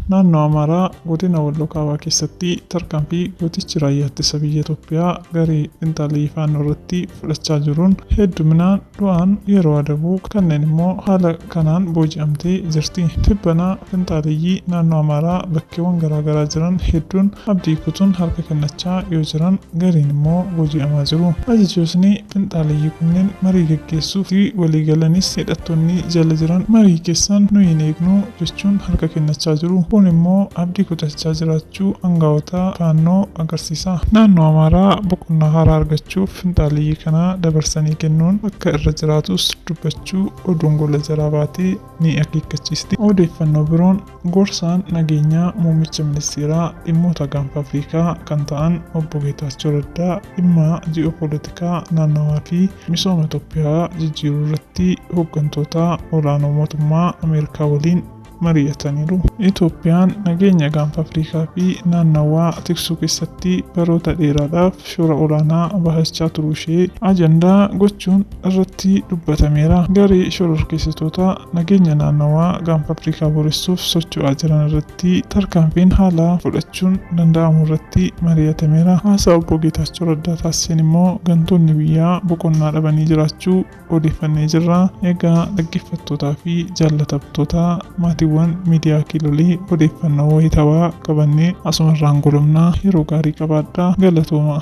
Naannoo Amaaraa godina Walloo Kaabaa keessatti tarkaanfii gootichi Raayyaa Ittisa Biyya Itoophiyaa garee xinxalii Faannoo irratti fudhachaa jiruun hedduminaan du'aan yeroo adabu kanneen immoo haala kanaan booji'amtee jirti. Tibbana finxaaleyyii naannoo Amaaraa bakkeewwan garaa garaa jiran hedduun abdii kutuun harka kennachaa yoo jiran gariin immoo booji'amaa jiru. Ajajootni finxaaleyyii kunneen marii gaggeessuuf itti walii galanis hidhattoonni jala jiran marii keessan nuyi hin eegnu jechuun harka kennachaa jiru. Kun immoo abdii kutachaa jiraachuu. jiraachuu angawoota faannoo agarsiisa. Naannoo Amaaraa boqonnaa haaraa argachuuf finxaaleyyii kana dabarsanii kennuun akka irra jiraatus dubbachuu oduun gola jalaa baate ni akeekkachiisti. Odeeffannoo biroon gorsaan nageenyaa muummicha ministeeraa dhimmoota gaanfa Afrikaa kan ta'an obbo Geetaachoo Raddaa dhimma ji'oopoolitikaa naannawaa fi misooma Itoophiyaa jijjiiruu irratti hoggantoota ol'aanoo mootummaa Ameerikaa waliin mari'ataniiru. Itoophiyaan nageenya Gaanfa Afrikaa fi naannawaa tiksuu keessatti baroota dheeraadhaaf shoora olaanaa bahachaa turuu ishee ajandaa gochuun irratti dubbatameera. Garee shororkeessitoota nageenya naannawaa Gaanfa Afrikaa booressuuf socho'aa jiran irratti tarkaanfiin haalaa fudhachuun danda'amu irratti mari'atameera. Haasaa Obbo Geetaachoo Raddaa taasiseen immoo gantoonni biyyaa boqonnaa dhabanii jiraachuu odeeffannee jirra. Egaa dhaggeeffattootaa fi jaallatamtoota maatiiwwan miidiyaa kiilolee odeeffannoo wayitawaa qabannee asumarraan golomnaa yeroo gaarii qabaadhaa galatooma.